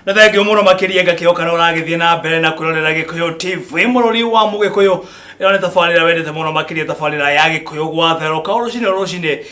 na thengio muno makiria ngakio kana uragithie na mbere na kwirorera gikuyu tv mururi wa mugikuyu ino ni tabarira wendete muno makiria tabarira ya gikuyu gwatheruka rucini rucini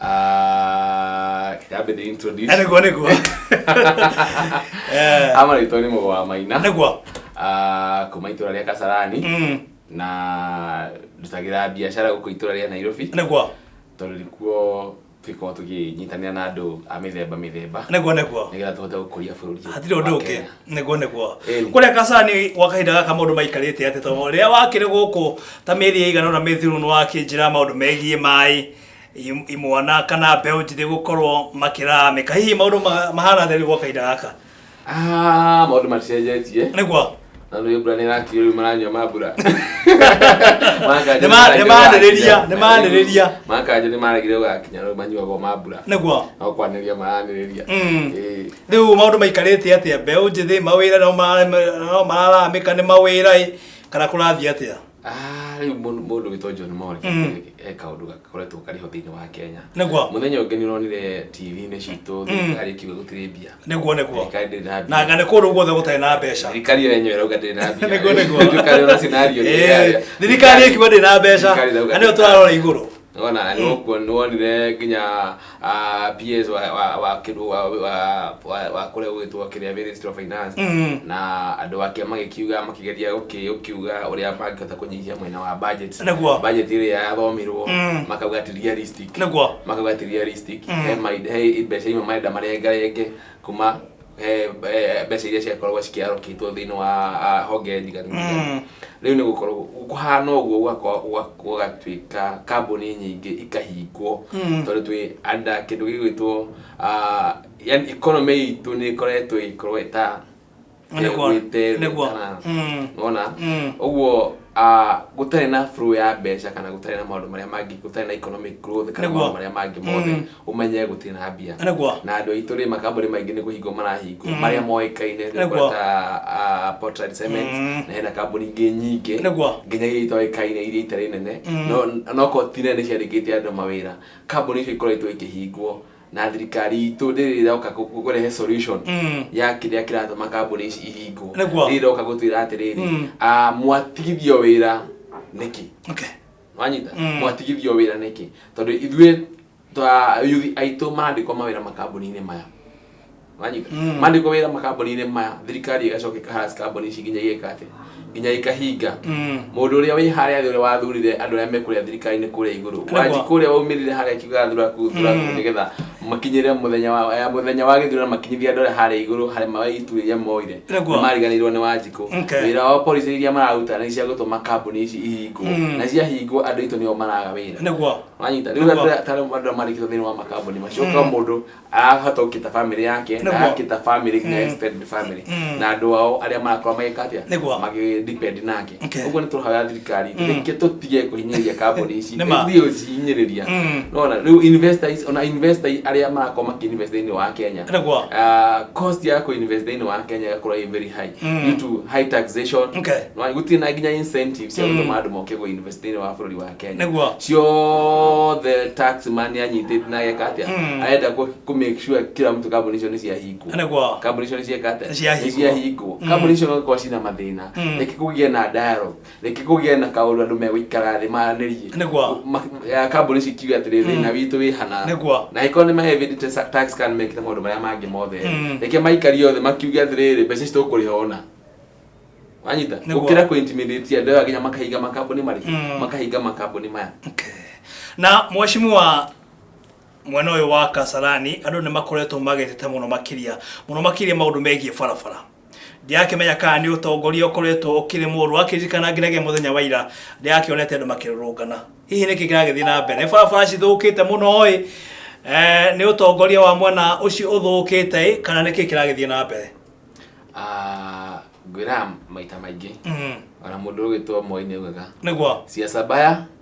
Ah, kĩambĩ ndĩ introduce. Eh, nĩguo nĩguo Eh, Ama rĩtwa nĩ mũgo wa maina nĩguo Ah, kuma itũra rĩa kasarani Mm, na ndutagĩra biacara gũkũ itũra rĩa nairobi nĩguo tondũ nĩkuo tũkorwo tũkĩnyitanĩra na andũ a mĩthemba mĩthemba nĩguo nĩguo nĩgetha tũhote gũkũria bũrũri hatirĩ ũndũ wa ũngĩ Kenya. nĩguo nĩguo Eh. kũrĩa kasani gwa kahinda gaka maũndũ maikarĩte atĩ tondũ rĩrĩa wakĩrĩ gũkũ ta mĩeri ĩigana na mĩthiru nĩ wakĩnjĩra maũndũ megiĩ maĩ im- imwana kana mbeũ njĩthĩ gũkorwo makĩramĩka hihi maũndũ ma- mahana theri gwa kahinda gaka Ah, maũndũ maticenjetie nĩguo na nĩ mbura nĩ ĩrakirio rĩu maranyua ma mbura Nĩma- nĩmanĩrĩria, nĩmanĩrĩria. makanja nĩ maregire gũgakinya rĩu manyuagwo ma mbura nĩguo no kwanĩrĩria maranĩrĩria Mm. Ĩĩ. rĩu maũndũ maikarĩte atĩa mbeũ njĩthĩ mawĩra no mara- no mararamĩka nĩ mawĩra ĩ kana kũrathiĩ atĩa Ah, rĩu mũndũ mũndũ wĩtwa John Mori Mm. e kaũndũ gakoretwo karĩ ho thĩinĩ wa Kenya Nĩguo. mũthenya ũngĩ nĩ ũronire TV-inĩ citũ thirikari ĩkiuga gũtirĩ mbia nĩguo nĩguo thirikari ndĩrĩ na mbia na nga nĩ kũndũ guothe gũtarĩ na mbeca thirikari ĩyo yenyewe ĩrauga ndĩrĩ na mbia Nĩguo, nĩguo. Thirikari ĩyo na scenario nĩ Eh, ĩrĩa- thirikari ĩkiuga ndĩ na mbeca Thirikari ĩrauga na nĩyo ndĩrĩ na tũrarora igũrũ Ona ni ukuo ni wonire nginya ah, PS wa wa wa kindu wa wa wa- wa kuria gwitwo kiria Ministry of Finance Mm. na andu ake magikiuga makigeria guki- gukiuga uria mangihota kunyihia mwena wa budget Nĩguo. budget iria yathomirwo Mm. makauga ti realistic Nĩguo. makauga ti realistic Mm. he mai- he mbeca imwe marenda marengarenge kuma he eh, mbeca iria ciakoragwo cikĩarokĩtwo thĩinĩ wa ah, honge ndiganu Mm. rĩu nĩ gũkorwo kũhana ũguo gwakwa- gwa- gũgatuĩka kambuni nyingĩ ikahingwo Mm. tondũ twĩ anda kĩndũ gĩgwĩtwo ah, yani economy itũ nĩ ĩkoretwo ĩkorwo ĩta Nĩguo, ĩgwĩte nĩguo. kana- Mm. wona Mm. ũguo ah, gũtarĩ na flow ya mbeca kana gũtarĩ na maũndũ marĩa mangĩ gũtarĩ na economic growth kana Nĩguo. maũndũ marĩa mangĩ mothe Mm. ũmenye gũtirĩ na mbia Nĩguo. na andũ aitũ rĩ makambuni maingĩ nĩ kũhingwo marahingwo marĩa moĩkaine nĩ Nĩguo. ũkora ta ah, Portland Cement Mm. na hena kambuni ingĩ nyingĩ Nĩguo. nginya iria itoĩkaine iria itarĩ nene no noko ti nene ciarĩkĩte andũ mawĩra kambuni icio ikoretwo ikĩhingwo na thirikari itũ rĩrĩ ĩroka kũ- kũ- kũrehe solution Mm. ya kĩrĩa kĩratũma kambuni ici ihingwo Nĩguo. rĩrĩ ĩroka gũtwĩra atĩrĩrĩ Mm. ah, mwatigithio wĩra nĩkĩ Okay. wanyita Mm. mwatigithio wĩra nĩkĩ tondũ ithuĩ ta yuthi aitũ marandĩkwo mawĩra makambuni-inĩ maya wanyita Mm. mandĩkwo wĩra makambuni-inĩ maya thirikari ĩgacoka ĩkaharas kambuni ici nginya igeka atĩ nginya ikahinga Mm. mũndũ ũrĩa wĩ harĩa thĩ ũrĩa wathurire andũ arĩa mekũrĩa thirikari-inĩ kũrĩa igũrũ Nĩguo. wanji kũrĩa waumĩrire harĩa kiuga thuraku thuraku Mm. nĩgetha Makinyĩrĩra mũthenya wa eh, mũthenya wa gĩthurano makinyithia andũ arĩa harĩa igũrũ harĩ ma- itu iria moire Nĩguo. nĩ mariganĩirwo nĩ wanjikũ Okay. wĩra wao policy iria mararuta nĩ cia gũtũma kambuni ici ihingwo Mm. na ciahingwo andũ aitũ nĩo maraga wĩra nĩguo wanyita rĩu Nĩguo. andũ arĩa- tarĩ andũ arĩa marĩkĩtwo thĩinĩ wa makambuni macio kwa mũndũ arahota gũkĩta family yake na Nĩguo. agakĩta family nginya Mm. extended family Mm. na andũ ao arĩa marakorwo magĩka atĩa Nĩguo. magĩdepend nake Okay. ũguo nĩ tũrahoya thirikari rĩngĩ tũtige kũhinyĩrĩria kambuni ici Nĩ ma. ithiĩ gũcihinyĩrĩria Mm. nona rĩu investors ona investors arĩa marakorwo makĩinvest thĩinĩ wa kenya Nĩguo. Ah, cost ya kũinvest thĩinĩ wa kenya ĩgakorwo ĩ very high Mm. due to high taxation Okay. Nĩwona, gũtirĩ na nginya incentives cia Mm. gũtũma andũ moke kũinvest thĩinĩ wa bũrũri wa kenya Nĩguo. ciothe tax man anyitĩte na ageka atĩa Mm. arenda kũ- kũ make sure kila mtu kambuni icio nĩ ciahingwo Nĩguo. kambuni icio nĩ cieka atĩa Nĩ ciahingwo. nĩ ciahingwo Mm. kambuni icio no ikorwo cina mathĩna Mm. reke kũgĩe na dialogue reke kũgĩe na kaũndũ andũ megũikara thĩ maranĩrie Nĩguo. Ma- ya kambuni ici kiuga atĩrĩ Mm. thĩna witũ wĩ hana Nĩguo. na ĩkorwo nĩ mahevĩte tax kana mekĩte maũndũ marĩa mangĩ mothe Mm. reke maikarie othe makiuge atĩrĩrĩ mbeca ici tũkũrĩha ona wanyita Nĩguo. gũkĩra kũintimidate andũ aya nginya makahinga makambuni marĩ Mm. makahinga makambuni maya Okay. na mweshimiwa mwena ũyũ wa kasarani andũ nĩ makoretwo magĩtete mũno makĩria mũno makĩria maũndũ megiĩ barabara ndirakĩmenya kana nĩ ũtongoria ũkoretwo ũkĩrĩmwo rwakĩririkana nginyagia mũthenya wa ira ndĩrakĩonete andũ makĩrũrũngana hihi nĩkĩ kĩragĩthiĩ na mbere nĩ barabara cithũkĩte mũno ĩ eh, nĩ ũtongoria wa mwena ũcio ũthũkĩte ĩ kana nĩkĩ kĩragĩthiĩ na mbere Ah, ngwĩraga maita maingĩ Mm, ona mũndũ ũgĩtwo moi nĩ augaga nĩguo cia sabaya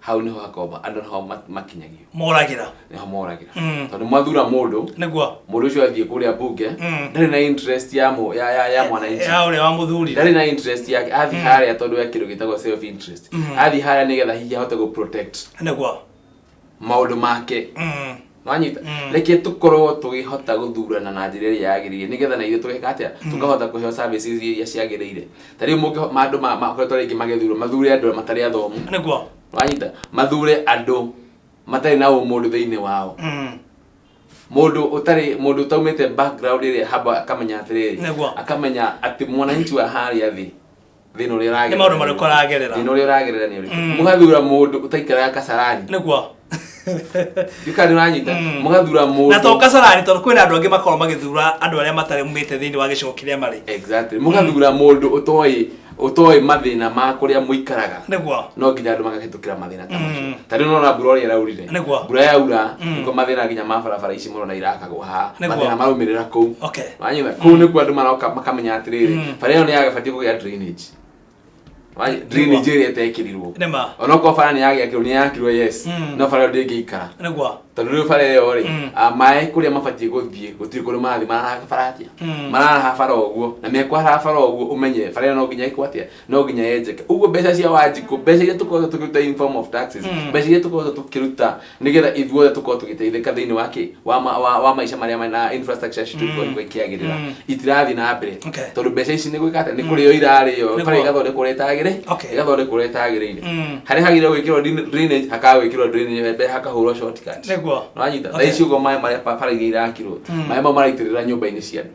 hau nĩho hakoragwo andũ nĩho ma- makinyagio moragĩra nĩho moragĩra Mm. tondũ mwathura mũndũ nĩguo mũndũ ũcio athiĩ kũrĩa mbunge Mm. ndarĩ na interest ya mũ- ya- ya- ya mwananchi ya ũrĩa wamũthurire ndarĩ na interest yake athiĩ harĩa tondũ ya kĩndũ gĩtagwo self interest athiĩ harĩa nĩgetha hihi ahote gũ protect nĩguo maũndũ make Mm. wanyita Mm. reke tũkorwo tũgĩhota gũthurana na njĩra ĩrĩa yagĩrĩire nĩgetha na ithuĩ tũgeka atĩa tũkahota kũheo services iria ciagĩrĩire ta rĩu mũngĩ ma andũ ma- makoretwo rĩngĩ magĩthurwo mathure andũ matarĩ athomu nĩguo wanyita mathure andũ matarĩ na ũmũndũ thĩinĩ wao Mm. mũndũ ũtarĩ mũndũ ũtaumĩte background ĩrĩa haba akamenya atĩrĩrĩ Nĩguo. akamenya atĩ mwananchi wa harĩa thĩ thina uria uragerera Nĩ maũndũ marĩkũ aragerera? thina uria uragerera ni uriku Mm. mugathura mundu utaikara kasarani nĩguo ndikari uranyita Mm. mugathura mundu na to kasarani tondũ kwĩna andũ angĩ makorwo magĩthura andũ arĩa matarĩ mumĩte thĩinĩ wa gĩcigo kĩrĩa marĩ exactly mugathura mundu utoy utoy mathina ma kuria muikaraga nĩguo no nginya andå magahetå kä ra mathä ta macio ta rĩu nona mbura ũrĩa ĩraurire Nĩ guo. mbura yaura nĩkuo mathĩna nginya ma barabara ici mũrona irakagwo haha Nĩ guo. mathĩna maraumĩrĩra kũu Okay. wanyitha kũu nĩkuo andũ maroka makamenya atĩrĩrĩ bara ĩyo nĩ yagabatiĩ kũgĩa drainage Wanyitha, guo. drainage ĩrĩa ĩtekĩrirwo Nĩ ma. onokorwo bara nĩ yagĩakĩrwo nĩ yakirwo yes Mm. no bara ĩyo ndĩngĩikara nĩguo tondũ rĩu bara ĩyo rĩ Mm. ah, maĩ kũrĩa mabatiĩ gũthiĩ gũtirĩ kũrĩ marathiĩ mararaha bara atĩa Mm. mararaha bara ũguo na mekwaraha bara ũguo ũmenye bara ĩyo no nginya ĩkwo atĩa no nginya yenjeke uguo mbeca cia wanjikå mbeca iria tũkoragwo tũkĩruta in form of taxes mbeca iria tũkoragwo tũkĩruta nĩgetha ithuothe tũkorwo tũgĩteithĩka thĩinĩ wa kĩ wa, ma, wa, wa maica marĩa ma- na infrastructure citũ ikoragwo ikĩagĩrĩra itirathiĩ na mbere Okay. tondũ mbeca ici nĩ gwĩka atĩa nĩ kũrĩo irarĩo Nĩ bara kwa- igathondekwo ũrĩa itagĩrĩ Okay. igathondekwo ũrĩa itagĩrĩire Mm. harĩa hagĩrĩirwo gwĩkĩrwo drin- drainage hakaga gwĩkĩrwo drainage mbere hakahũrwo shortcut Nĩguo. nĩwanyita Okay. thaa ici ũguo maĩ marĩa ba- bara iria irakirwo maĩ mau maraitĩrĩra nyũmba-inĩ cia andũ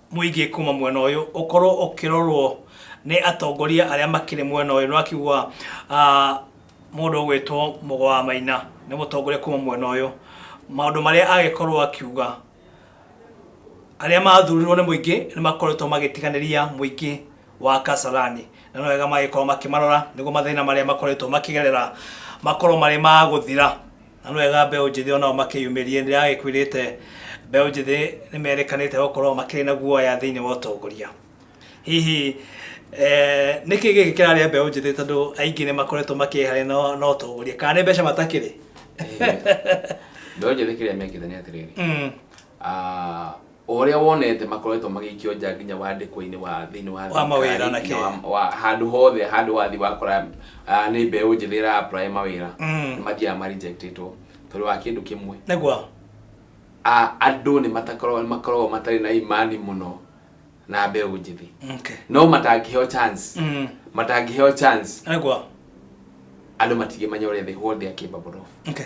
mũingĩ kuma mwena ũyũ ũkorwo ũkĩrorwo nĩ atongoria arĩa makĩrĩ mwena ũyũ nĩwakiuga mũndũ ũgwĩtwo mũgo wa maina nĩ mũtongoria kuma mwena ũyũ maũndũ marĩa agĩkorwo akiuga arĩa mathurirwo nĩ mũingĩ nĩ makoretwo magĩtiganĩria mũingĩ wa Kasarani na nĩ wega magĩkorwo makĩmarora nĩguo mathĩna marĩa makoretwo makĩgerera makorwo marĩ magũthira na nĩ wega mbeũ njĩthĩ onao makĩyumĩrie nĩ ndagĩkwĩrĩte mbeũ njĩthĩ nĩ merĩkanĩte gũkorwo makĩrĩ na guoya thĩinĩ wa ũtongoria hihi eh, nĩ kĩ gĩkĩ kĩrarĩa mbeũ njĩthĩ tondũ aingĩ nĩ makoretwo makĩharĩ na na ũtongoria kana nĩ mbeca matakĩrĩ mbeũ njĩthĩ kĩrĩa mekĩte nĩ atĩrĩrĩ Mm, ah, o ũrĩa wonete makoretwo magĩikio nja nginya wandĩkwo-inĩ wa thĩinĩ wa Wa mawĩra thirikari, na nginya kĩ. wa- wa- handũ hothe handũ wathi wakora ah, nĩ mbeũ njĩthĩ ĩra apply mawĩra Mm. nĩ mathiaga ma rejectĩtwo tondũ wa kĩndũ kĩmwe nĩguo Ah, andũ nĩ matakoragwo makoragwo matarĩ na imani mũno na mbeũ njĩthĩ okay. no matangĩheo chance mm. matangĩheo chance nĩguo andå matingä menya å rä a the whole day came about off okay.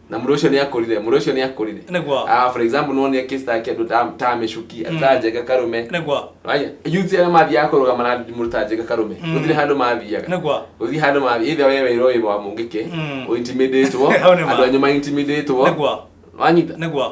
na mũndũ ũcio nĩ akũrire mũndũ ũcio nĩ akũrire Nĩguo. Ah, for example nĩwonire case ta kĩndũ ta ta mĩcuki ta njega karũme nĩguo Waya, yuti arĩa mathiaga kũrũgama na mũndũ ta njega karũme gũtirĩ handũ mathiaga nĩguo gũthiĩ handũ mathiĩ either we wĩra ũyũ wa mũngĩke Mm. ũintimidatwo Hau nĩ ma. andũ anyu maintimidĩtwo nĩguo wanyita nĩguo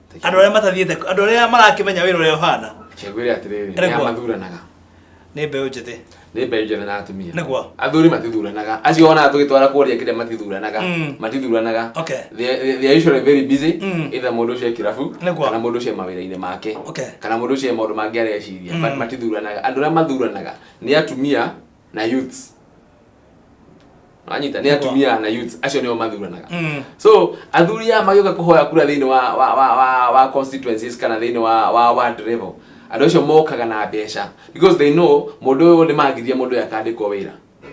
andå arä a matathiäte andå arä a marakä menya wä ra å rä a å hana Cagwĩre atĩrĩrĩ, Arĩ nĩ kwa- amathuranaga. nä mbeå njäthä Nĩ mbeũ njĩthĩ na atumia. Nĩ kwa. Athuri matithuranaga. Acio wonaga tũgĩtwara kũrĩa kĩrĩa matithuranaga. Mm. Matithuranaga. Okay. They- they- they are usually very busy. Mm. Either mũndũ ũcio e kĩrabu, Nĩ kwa. kana mũndũ ũcio e mawĩra-inĩ make. Okay. Kana mũndũ ũcio e maũndũ mangĩ areciria. But matithuranaga. Andũ arĩa mathuranaga nĩ atumia na youth anyita nä atumia na youth acio nä o mathuranaga Mm. so athuri aya magioka kuhoya kura thĩinĩ wa wa wa wa, wa constituencies kana thĩinĩ wa wa ward level andå acio mokaga na mbeca because they know mũndũ ũyũ nĩ mangithia mũndũ ũyũ akandĩkwo wĩra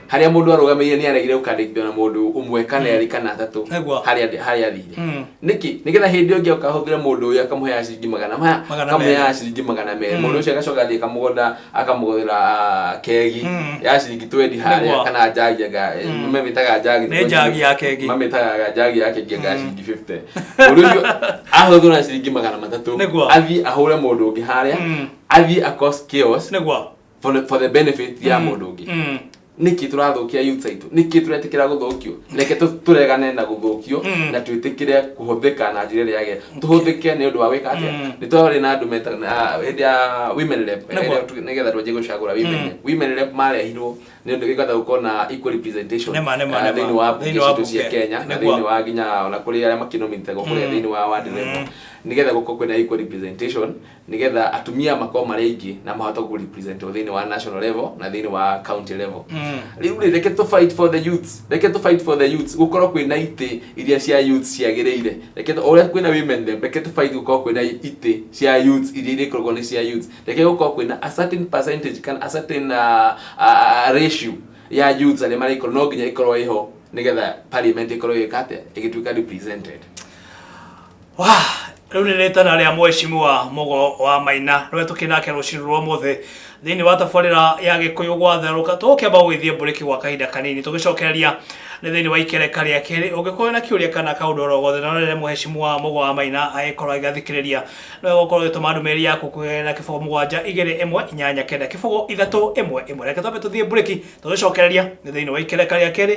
harĩa mũndũ arũgamĩire nĩ aregire gũkandĩkithio na mũndũ ũmwe kana erĩ kana atatũ Nĩguo. harĩa athi- harĩa athire Mm. nĩkĩ nĩgetha hĩndĩ ĩyo ngĩoka hũthĩre mũndũ ũyũ akamũheaga ciringi magana maya Magana akamũheaga merĩ. ciringi magana merĩ Mm. mũndũ ũcio agacoka athiĩ kamũgũnda akamũgũrĩra ah, kegi Mm. ya ciringi twendi harĩa Nĩguo. kana njagi anga Mm. mamĩtaga njagi Nĩ njagi ya kegi. mamĩtaga njagi ya kegi anga Mm. ciringi 50 mũndũ ũcio ahũthũra ciringi magana matatũ Nĩguo. athiĩ ahũre mũndũ ũngĩ harĩa Mm. athiĩ across chaos nĩguo for the- for the benefit ya Mm. mũndũ ũngĩ Mm. nĩkĩ tũrathũkia youths aitũ nĩkĩ tũretĩkĩra gũthũkio reke tũ- tũregane na gũthũkio na twĩtĩkĩre kũhũthĩka na njĩra ĩrĩa yagĩrĩire tũhũthĩke nĩ ũndũ wa gwĩka atĩa nĩ twarĩ na andũ meta ah, hĩndĩ ya women rep Nĩguo. eh, tu- nĩgetha twanjie gũcagũra women rep women rep marehirwo nĩ ũndũ gĩgatha gũkorwo na equal representation Nĩma, nĩma, ah, nĩma. thĩinĩ wa mbunge Thĩinĩ wa citũ cia mbunge. Kenya na Nĩguo. thĩinĩ wa nginya ona kũrĩ arĩa makinomitagwo kũrĩa thĩinĩ wa ward rep nĩgetha gũkorwo kwĩna equal representation nĩgetha atumia makorwo marĩ aingĩ na mahote kũ represent o thĩinĩ wa national level na thĩinĩ wa county level rĩu rĩ reke tũ fight for the youths reke tũ fight for the youths gũkorwo kwĩna itĩ iria cia youths ciagĩrĩire reke tũ- o ũrĩa kwĩna women rep reke tũ fight gũkorwo kwĩna itĩ cia youths iria irĩkoragwo nĩ cia youths reke gũkorwo kwĩna a certain percentage kana a certain uh, uh, ratio ya youths arĩa marĩkorwo no nginya ĩkorwo ĩho nĩgetha parliament ĩkorwo ĩgĩka atĩa ĩgĩtuĩka represented Wah, rĩu nĩ rĩtana rĩa mwecimua mũgo wa maina rũrĩa tũkĩnake rũcinĩ rwa mũthĩ thĩinĩ wa tabarĩra ya gĩkũyũ gwatherũka tũgũkĩamba gũgĩthiĩ mbũrĩki gwa kahinda kanini tũgĩcokereria nĩ thĩinĩ wa ikereka rĩa kerĩ ũngĩkorwo na kĩũria kana kaũndũ oro gothe na rĩrĩa mwecimua mũgo wa maina agĩkorwo agĩgathikĩrĩria no gũkorwo ũgĩtũma ndũmĩrĩri yaku kũgerera kĩbũgũ mũgwanja igĩrĩ ĩmwe inyanya kenda kĩbũgũ ithatũ ĩmwe ĩmwe reke twambe tũthiĩ mbũrĩki tũgĩcokereria nĩ thĩinĩ wa ikereka rĩa kerĩ